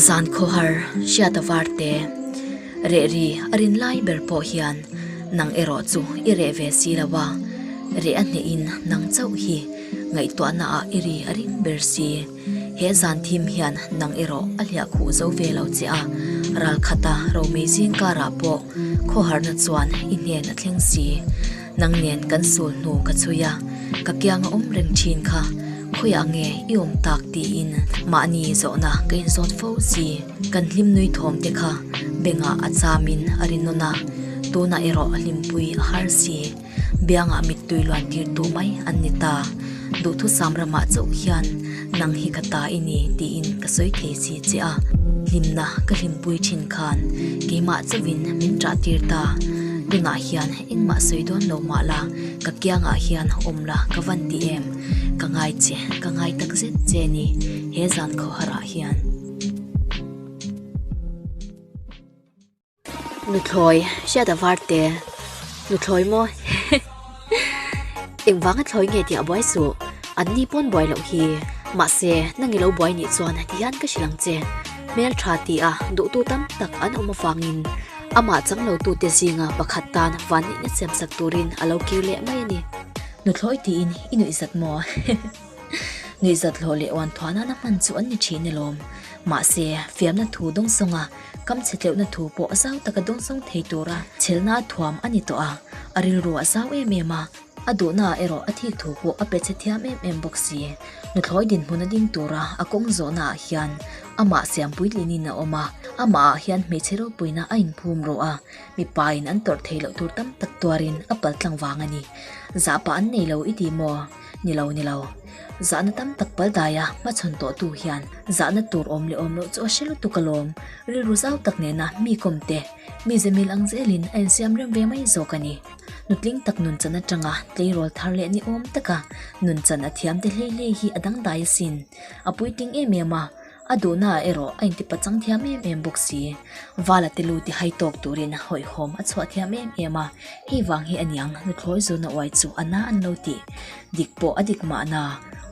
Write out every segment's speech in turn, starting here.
zan khawhar hriat a var te rehri a rin lai ber pawh hian nang erawh chu i reh ve si lo a reh a hnehin nang chauh hi ngaihtuahna ah i ri a ring ber si. He zan thim hian nang erawh a hliah khuh zo ve lo che a, ral khata romei zing karah pawh khawharna chuan i hnen a thleng si. Nang nen kan sul hnu ka chhui a, ka kianga awm reng thin kha, khawiah nge i awm tak tiin mahni zawhna ka inzawt fo si. Kan hlimnui thawm te kha bengah a chamin a ri nawn a, tunah erawh hlimpui a har si. Biangah mittui luan tir duh mai an ni ta. Duhthut sam ramah chauh hian nang hi ka ta i ni tiin ka sawi thei si che a. Hlimna ka hlimpui thin khan keimah chauhin min ṭah tir ta. Tunah hian engmah sawi dawn lo mah la, ka kiangah hian awm la ka van ti em? Ka ngai che, ka ngai tak zet che a ni he zan khawharah hian. Nuthlawih hriat a var te nuthlawih maw he engvanga thlawi nge tih a buai suh an ni pawn buai loh hi mahse nang i lo buai nih chuan heti hian ka hrilh ang che hmeltha tih a duhtu tam tak an awm avangin amah chang lo tute zinga pakhat tan vanneihna siam sak turin a lo kir leh mai a ni. Nuthlawi tiin i nuih zat maw he. Ngeiza tlawh leh uanthua nana hman chu an ni thin e lawm. Mahse, fiamna thu dawng sawnga kam chhitleuhna thu pawh zau taka dawng zawng thei tura chhelhna thuam a ni tawh a, a rilru a zau em em a, a duhna ah erawh a thik thu pawh a pe chhe thiam em em bawk si. Nuthlawi dinhmun a ding tura a kawng zawhna ah hian amah siam puitling niin a awm a, amah ah hian hmeichhe ropuina a inphum rawh a, mipa in an tawrh thei loh tur tam tak tuar in a pal tlang vang a ni. Zah pah an nei lo i ti maw? Ni lo, ni lo. Zahna tam tak pal dai a hma chhawn tawh tu hian zahna tur awm leh awm loh chu a hre lutuk a lawm. Rilru zau tak nena mi kawm te, mi zemil ang zel in a insiam rem ve mai zawk a ni. Nutling tak nun chan atanga tleirawl thar leh ni awm taka nun chan a thiam te hlei hlei hi a dangdai asin. A puitling em em a. A duhnaah erawh a intipachang thiam em em bawk si. Vala te lu tihai tawk turin hawihhawm a chhuah thiam em em a, hei vang hi a niang hnuthawih zawna uai chu a na an lo ti. Dik pawh a dik mahna,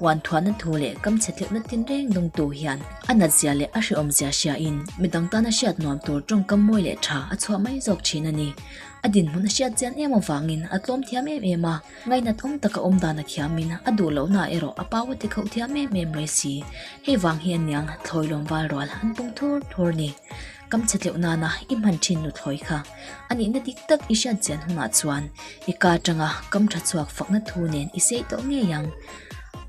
uanthuahna thu leh kam chhetloihna tin reng dung tu hian a natzia leh a hreawmzia hriain midang tan a hriat nuam tur tawngkam mawi leh tha a chhuah mai zawk thin a ni. A dinhmun a hriat chian em avangin a tlawm thiam em em a. Ngainat awm taka awm dan a thiam in a duh loh naah erawh a pau a ti khauh thiam em em mai si. Hei vang hi a niang thlawi lawm val rual an pung thur thur ni. Kam chhe tleuh nana i hman thin nu thlawi kha a nihna dik tak i hriat chian hunah chuan i ka tanga kam tha chhuak fakna thu nen i sei tawh ngei ang.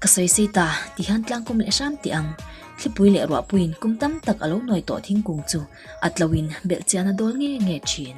Ka sawi sei ta ti hian tlangkum leh hram teh ang. Thlipui leh ruahpuiin kum tam tak a lo nuai tawh thingkung chu a tlo in belh chian a dawl nge nge thin.